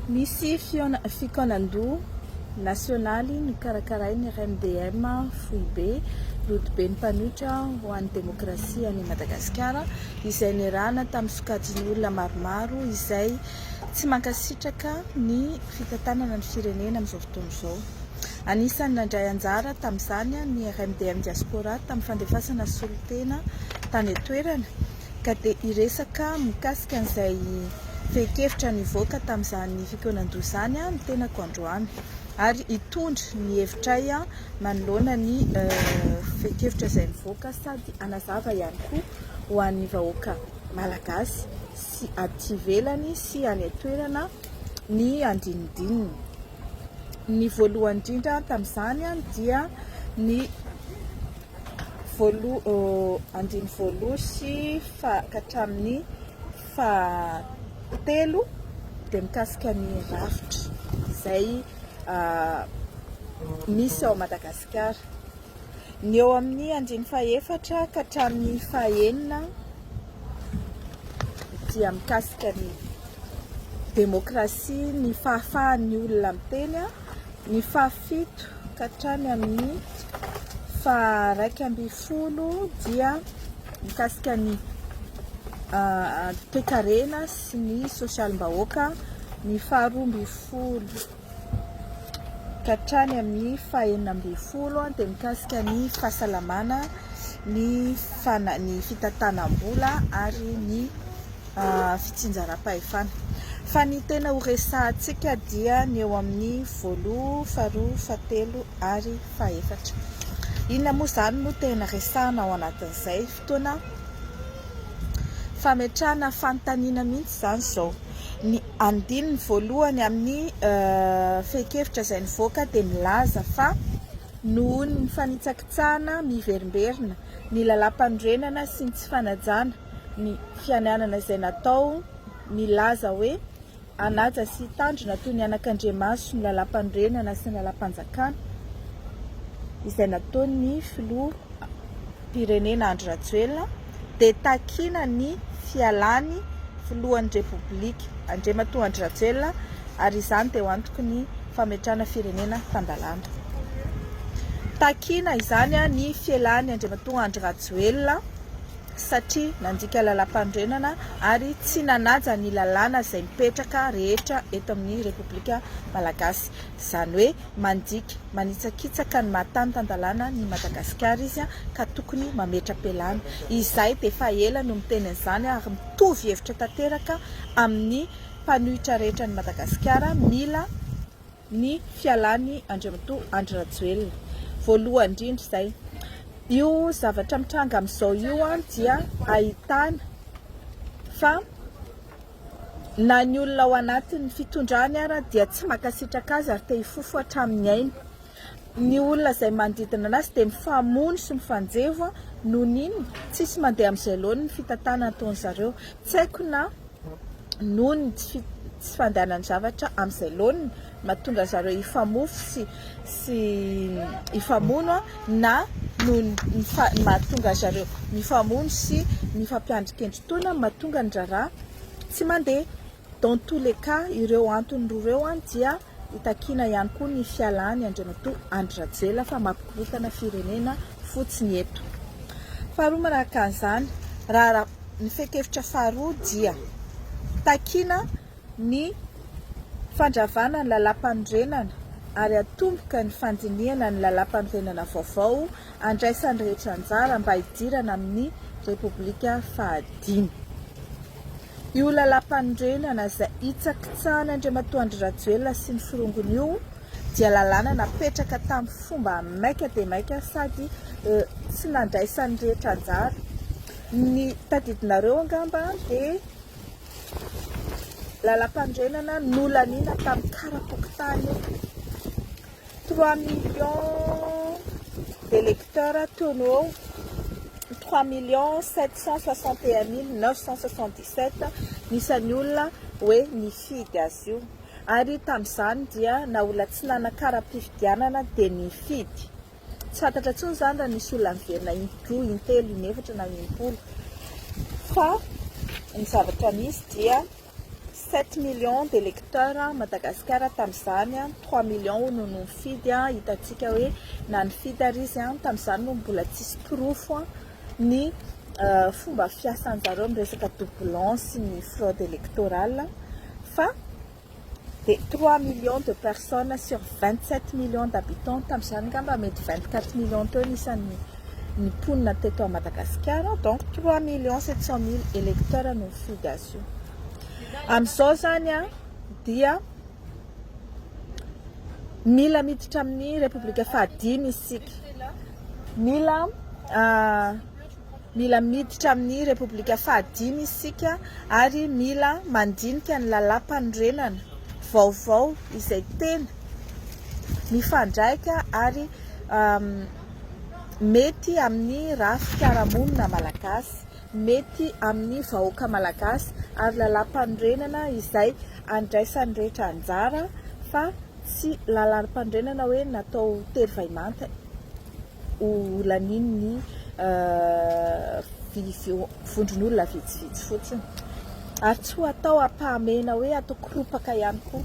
Misy fikaonan-doha nasionaly nokarakarain'ny RMDM Foibe Rodoben'ny Mpanohitra ho an'ny Demokrasia an'i Madagasikara izay niarahana tamin'ny sokajin'ny olona maromaro izay tsy mankasitraka ny fitantanana ny firenena amin'izao fotoana izao. Anisan'ny nandray anjara tamin'izany ny RMDM Diaspora tamin'ny fandefasana solontena tany an-toerana. ka dia hiresaka mikasika an'izay fehin-kevitra nivoaka tamin'izany fikonan-doha izany ny tenako androany ary hitondra ny hevitray manoloana ny fehin-kevitra izay nivoaka sady hanazava ihany koa ho an'ny vahoaka malagasy sy aty ivelany sy any an-toerana ny andinindininy. Ny voalohany indrindra tamin'izany dia ny andiny voaloha sy ka hatramin'ny fahatelo dia mikasika ny rafitra izay misy ao Madagasikara. Ny eo amin'ny andiny fahefatra ka hatramin'ny fahenina dia mikasika ny demokrasia, ny fahafahan'ny olona miteny. Ny fahafito ka hatrany amin'ny faharaika ambin'ny folo dia mikasika ny toekarena sy ny sosialim-bahoaka, ny faharoa ambin'ny folo ka hatrany amin'ny fahenina ambin'ny folo dia mikasika ny fahasalamana, ny fitantanam-bola ary ny fitsinjaram-pahefana. Fa ny tena ho resahantsika dia ny eo amin'ny voaloha, faharoa, fahatelo ary fahefatra. Inona moa izany no tena resahana ao anatin'izay? Fotoana fametrahana fanontaniana mihitsy izany izao. Ny andininy voalohany amin'ny fehin-kevitra izay nivoaka dia milaza fa noho ny fanitsakitsahana miverimberina, ny lalàmpanorenana sy ny tsy fanajana ny fiananana izay natao milaza hoe hanaja sy hitandrina toy ny anakandriamaso ny Lalàmpanorenana sy ny Lalàmpanjakana izay nataon'ny Filoham-pirenena Andry Rajoelina dia takina ny fialan'ny Filohan'ny Repoblika Andriamatoa Andry Rajoelina ary izany dia ho antoky ny fametrahana firenena tan-dalàna. Takina izany ny fialan'i Andriamatoa Andry Rajoelina. satria nandika lalàmpanorenana ary tsy nanaja ny lalàna izay mipetraka rehetra eto amin'ny Repoblika Malagasy. Izany hoe mandika manitsakitsaka ny maha tany tan-dalàna an'i Madagasikara izy ka tokony mametra-pialana. Izahay dia efa ela no miteny an'izany ary mitovy hevitra tanteraka amin'ny mpanohitra rehetra an'i Madagasikara, mila. ny fialany Andriamatoa Andry Rajoelina voalohany indrindra izay io zavatra mitranga amin'izao io an dia ahitana fa na ny olona ao anatin'ny fitondrany ara dia tsy makasitraka azy ary te hifofo hatramin'ny ainy ny olona izay manodidina anazy dia mifamono sy mifanjevo an noho n'inona tsisy mandeha amin'izay laoniny fitantanana ataon'izareo tsy haiko na noho ny tsy tsy fandehanan'ny zavatra amin'izay laoniny, mahatonga zareo hifamofo sy sy hifamono na noho ny ny mahatonga zareo mifamono sy mifampiandry kendri-toana mahatonga ny raharaha tsy mandeha. Dans tous les cas ireo antony roa ireo dia. Hitakiana ihany koa ny fialany Andriamatoa Andry Rajoelina fa mampikorontana firenena fotsiny eto. Faharoa manaraka an'izany, raharaha ny fehin-kevitra faharoa dia takiana ny fandravana ny Lalàmpanorenana ary hatomboka ny fandinihana ny Lalàmpanorenana vaovao handraisan'ny rehetra anjara mba hidirana amin'ny Repoblika fahadimy. Io lalàmpanorenana izay hitsakitsahan' Andriamatoa Andry Rajoelina sy ny forongony io dia lalàna napetraka tamin'ny fomba maika dia maika sady tsy nandraisan'ny rehetra anjara. Ny tadidinareo angamba dia lalàmpanorenana nolaniana tamin'ny karapokontany io. Trois millions d'electeurs toy ny hoe trois millions sept cent soixante et un mille neuf cent soixante dix sept ny isan'ny olona hoe nifidy azy io ary tamin'izany dia na olona tsy nanakara-pifidianana dia nifidy. Tsy fantatra intsony izany raha nisy olona niverina indroa, intelo, inefatra na impolo fa ny zavatra misy dia. Sept millions de lecteurs Madagasikara tamin'izany an, trois millions hono no nifidy an, hitantsika hoe na nifidy ary izy an, tamin'izany no mbola tsisy porofo an ny fomba fiasan'ny zareo amin'ny resaka doublons sy ny fraude électorale fa dia trois millions de personnes sur vingt sept millions d'habitants tamin'izany ngamba mety vingt quatre millions teo ny isan'ny ny mponina teto à Madagasikara donc trois millions sept cent mille electeurs no mifidy azy io amizao zany a dia mila miditra amin'ny repoblika fahadimy isika mila mila miditra amin'ny repoblika fahadimy isika ary mila mandinika ny lalam-panorenana vaovao izay tena mifandraika ary mety amin'ny ra fiarahamonina malagasy, mety amin'ny vahoaka malagasy ary lalam-panorenana izay andraisan'ny rehetra anjara fa tsy lalam-panorenana hoe natao tery vahimanta ho lanian'ny vondron'olona vitsivitsy fotsiny ary tsy ho atao ampahamehana hoe atao koropaka ihany koa.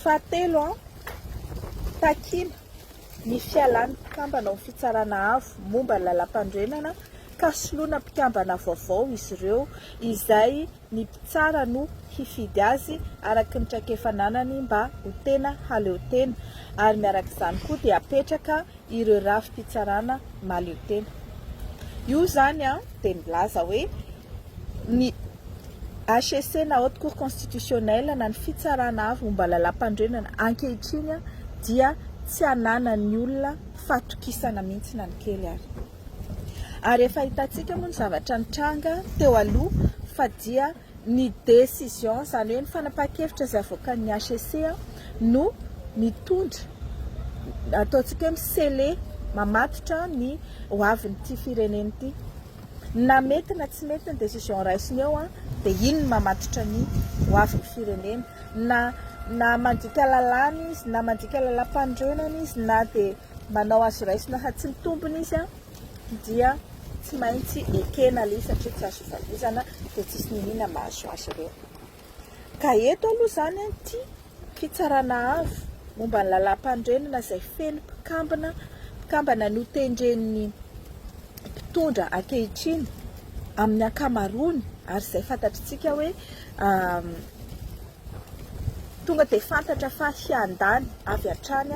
Fahatelo, takiana. ny fialan'ny mpikambana ao amin'ny Fitsarana Avo momba ny Lalampanorenana ka soloina mpikambana vaovao izy ireo izay ny mpitsara no hifidy azy araka ny traikefa ananany mba ho tena haleotena ary miarak'izany koa dia apetraka ireo rafi-pitsarana mahaleotena. Io izany dia milaza hoe. ny HCC na Haute Cour Constitutionnelle na ny Fitsarana Avo momba Lalàmpanorenana ankehitriny dia tsy ananan'ny olona fatokisana mihitsy na ny kely ary. Ary efa hitantsika moa ny zavatra nitranga teo aloha fa dia ny décision, izany hoe ny fanapahan-kevitra izay avoakan'ny HCC no mitondra, ataontsika hoe mi-sceller, mamatotra ny ho avin'ity firenena ity. Na mety na tsy mety ny décision raisiny eo dia iny no mamatotra ny ho avin'ny firenena. Na na mandika lalàna izy, na mandika lalàmpanorenana izy, na dia manao azo raisina fa tsy mitombina izy dia tsy maintsy ekena aloha satria tsy azo ivalozana dia tsisy niniana mahazo azy ireo. Ka eto aloha izany anty fitsarana avo momba ny lalàmpanorenana izay feno mpikambana mpikambana notendren'ny mpitondra ankehitriny amin'ny ankamaroany ary izay fantatritsika hoe tonga dia fantatra fa hiandany avy hatrany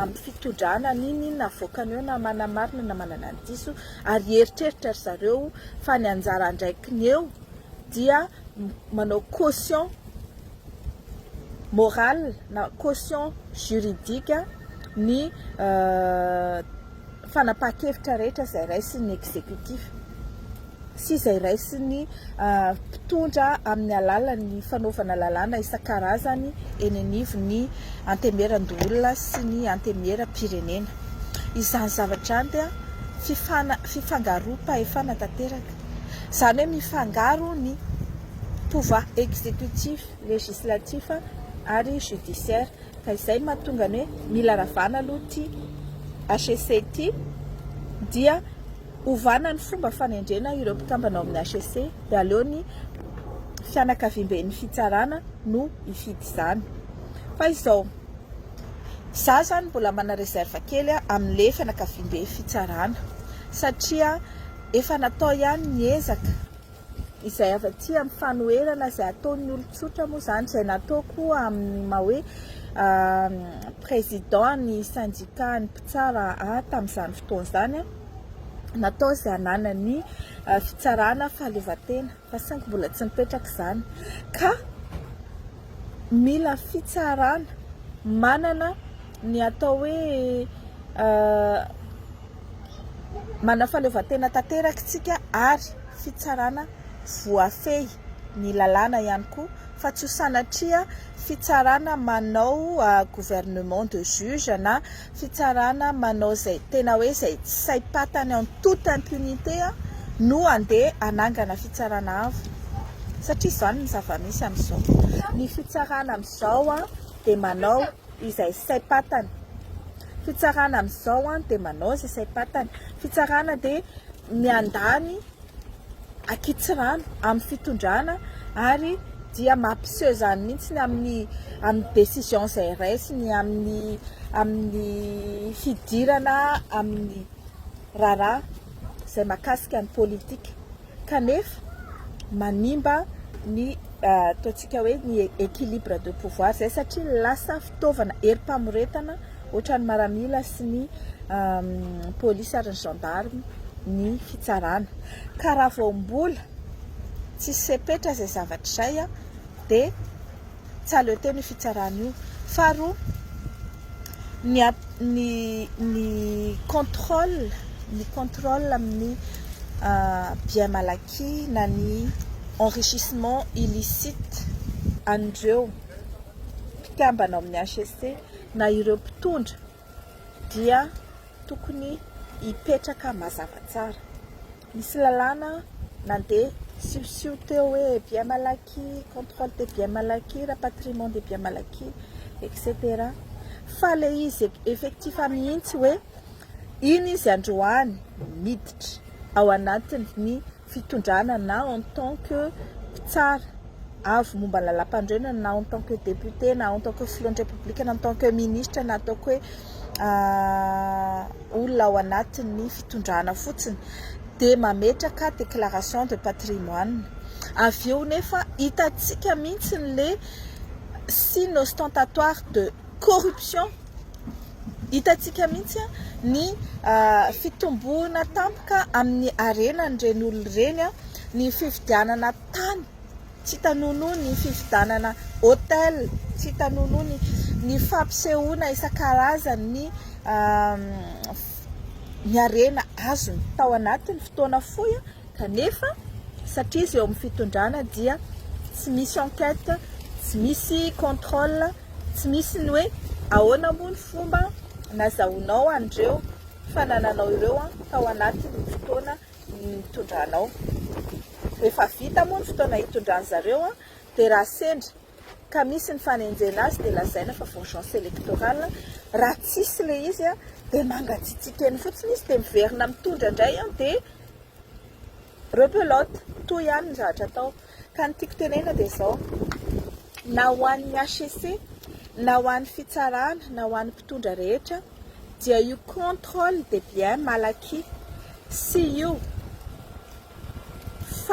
amin'ny fitondrana n'inon'inona avoakany eo na manamarina na manana ny diso ary hieritreritra ry zareo fa ny anjara andraikiny eo dia manao caution morale na caution juridique ny fanapahan-kevitra rehetra izay raisin'ny exécutif sy izay raisin'ny mpitondra amin'ny alalan'ny fanaovana lalàna isan-karazany eny anivon'ny antemieran-doholona sy ny antemieram-pirenena. Izany zavatra izany dia fifangaroam-pahefana tanteraka. Izany hoe mifangaro ny pouvoir exécutif, législatif ary judiciaire. Ka izay no mahatonga ny hoe mila ravana aloha ity HEC ity dia ovana ny fomba fanendrena ireo mpikambana ao amin'ny HEC dia aleo ny fianakaviamben'ny fitsarana no hifidy izany. Fa izao, izaho izany mbola mana réserve kely amin'ny fianakaviamben'ny fitsarana satria, Efa natao ihany ny ezaka, izay avy aty amin'ny fanoherana izay ataon'ny olon-tsotra moa izany, izay natao koa amin'ny maha hoe président ny syndicat ny mpitsara ahy tamin'izany fotoana izany, natao izay hananan'ny fitsarana fahaleovantena. fa saingy mbola tsy mipetraka izany ka mila fitsarana manana ny atao hoe manana fahaleovantena tanteraka isika ary fitsarana voafehy ny lalàna ihany koa fa tsy ho sanatria fitsarana manao gouvernement de juge na fitsarana manao izay tena hoe izay tsy saim-patany en toute impunité no andeha hanangana fitsarana avo satria izany ny zava-misy amin'izao. Ny fitsarana amin'izao dia manao izay saim-patany, fitsarana amin'izao dia manao izay saim-patany, fitsarana dia miandany. ankitsirano amin'ny fitondrana ary dia mampiseho izany mihitsy ny amin'ny amin'ny décision izay raisiny amin'ny amin'ny fidirana amin'ny raharaha izay makasika ny politika kanefa manimba ny ataontsika hoe ny équilibre de pouvoir izay satria lasa fitaovana herim-pamoretana ohatran'ny maramila sy ny polisy ary ny gendarme ny fitsarana ka raha vao mbola tsisy sepetra izay zavatra izay dia tsy aleo teny io fitsarana io faharoa ny ny ny contrôle ny contrôle amin'ny bien malaky na ny enrichissement illicite an'ireo mpikambana ao amin'ny HCC na ireo mpitondra dia tokony hipetraka mazava tsara. Misy lalàna nandeha siosio teo hoe bien mal acquis, contrôle des biens mal acquis, rapatriement des biens mal acquis, etc. Fa ilay izy effectif mihitsy hoe iny izy androany miditra ao anatin'ny. fitondrana na en tant que mpitsara avo momba ny lalampanorenana na en tant que député na en tant que filohan'ny Repoblika na en tant que ministra na ataoko hoe olona ao anatin'ny fitondrana fotsiny dia mametraka déclaration de patrimoine. Avy eo nefa hitantsika mihitsy ilay signe ostentatoire de corruption, hitantsika mihitsy ny fitomboana tampoka amin'ny harenan'ireny olona ireny ny fividianana tany tsy hita nonoa, ny fividianana hôtel tsy hita nonoa, ny fampisehoana isan-karazany ny ny harena azony tao anatin'ny fotoana fohy. Kanefa satria izy eo amin'ny fitondrana dia tsy misy enquête, tsy misy contrôle, tsy misy ny hoe ahoana moa ny fomba nazahoanao an'ireo fanananao ireo tao anatin'ny fotoana nitondranao. Rehefa vita moa ny fotoana hitondran'zareo dia raha sendra ka misy ny fanenjena azy dia lazaina fa vengeance électorale, raha tsisy ilay izy an dia mangatsiatsiaka eny fotsiny izy dia miverina mitondra indray an dia rebelote, toa ihany ny zavatra atao, ka ny tiako tenenina dia izao, na ho an'ny HCC, na ho an'ny fitsarana, na ho an'ny mpitondra rehetra dia io contrôle des biens mal acquis sy io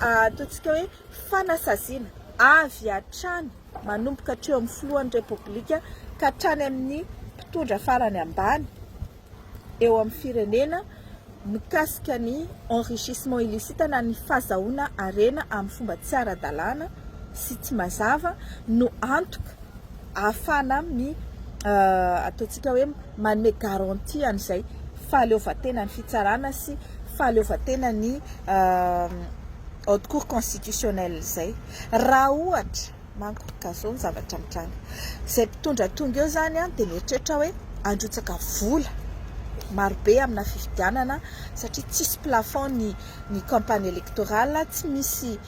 ataontsika hoe fanasaziana avy hatrany manomboka hatreo amin'ny filohan'ny Repoblika ka hatrany amin'ny mpitondra farany ambany eo amin'ny firenena mikasika ny enrichissement illicite na ny fazahoana harena amin'ny fomba tsy ara-dalàna sy tsy mazava no antoka ahafahana mi ataontsika hoe manome garantie an'izay fahaleovantenan'ny fitsarana sy fahaleovantenan'ny haute cour constitutionnelle izay. Raha ohatra manko ka izao ny zavatra mitranga, izay mpitondra tonga eo izany dia mieritreritra hoe handrotsaka vola marobe amina fifidianana satria tsisy plafond ny ny campagne électorale, tsy misy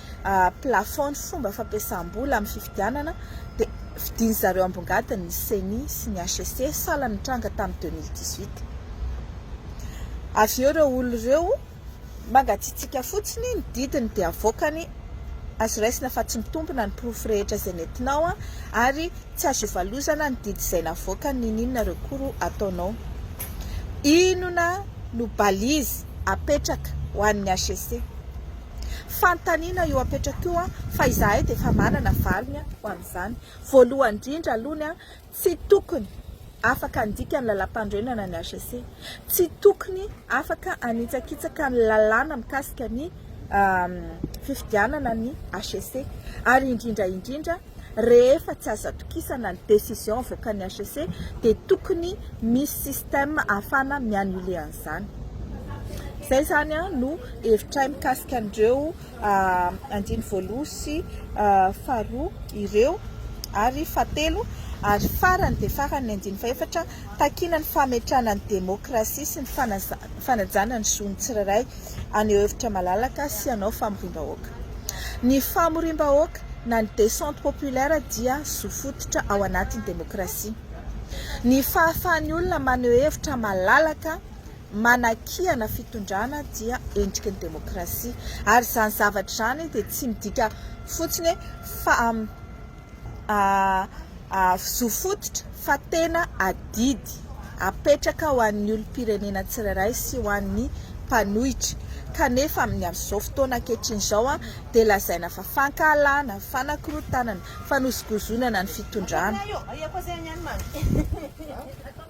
plafond ny fomba fampiasam-bola amin'ny fifidianana dia fidin'ny zareo ambongadiny ny ceni sy ny HCC sahala ny nitranga tamin'ny deux mille dix huit. Avy eo ireo olona ireo mangatsiatsiaka fotsiny ny didiny dia avoakany azo raisina fa tsy mitombina ny porofo rehetra izay nentinao ary tsy azo ivalozana ny didy izay navoakany niniana ireo koro ataonao. Inona no balise apetraka ho an'ny HCC? Fanontaniana io apetrakko io fa izahay dia efa manana valiny ho an'izany. Voalohany indrindra aloha ny tsy tokony afaka handika ny lalàmpanorenana ny HCC. Tsy tokony afaka hanitsakitsaka ny lalàna mikasika ny fifidianana ny HCC ary indrindra indrindra, rehefa tsy azo atokisana ny decision avoakan'ny HCC dia tokony misy system ahafahana mi annuler an'izany. Izay izany no hevitray mikasika an'ireo andiny voaloha sy faharoa ireo ary fahatelo ary farany dia farany ny andiny fahefatra, takiana ny fametrahana ny demokrasia sy ny fanajana ny zon'ny tsirairay. haneho hevitra malalaka sy hanao famoriam-bahoaka. Ny famoriam-bahoaka na ny descente populaire dia zo fototra ao anatin'ny demokrasia. Ny fahafahan'ny olona maneho hevitra malalaka manakiana fitondrana dia endriky ny demokrasia ary izany zavatra izany dia tsy midika fotsiny hoe zo fototra fa tena adidy apetraka ho an'ny olom-pirenena tsirairay sy ho an'ny mpanohitra kanefa amin'ny amin'izao fotoana ankehitriny izao dia lazaina fa fankahalana, fanakorontanana, fanosogozonana ny fitondrana.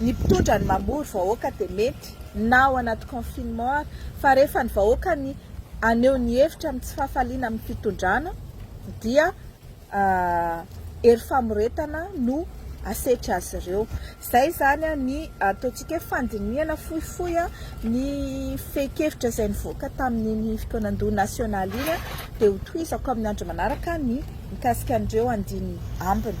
Ny mpitondra ny mamory vahoaka dia mety na ao anaty confinement ary fa rehefa ny vahoaka ny aneho ny hevitra amin'ny tsy fahafaliana amin'ny fitondrana dia hery famoretana no asetry azy ireo. Izay izany ny ataontsika hoe fandinihana fohifohy ny fehin-kevitra izay nivoaka tamin'iny fotoanan-doha nasionaly iny dia ho tohizako amin'ny andro manaraka ny mikasika an'ireo andininy ambiny.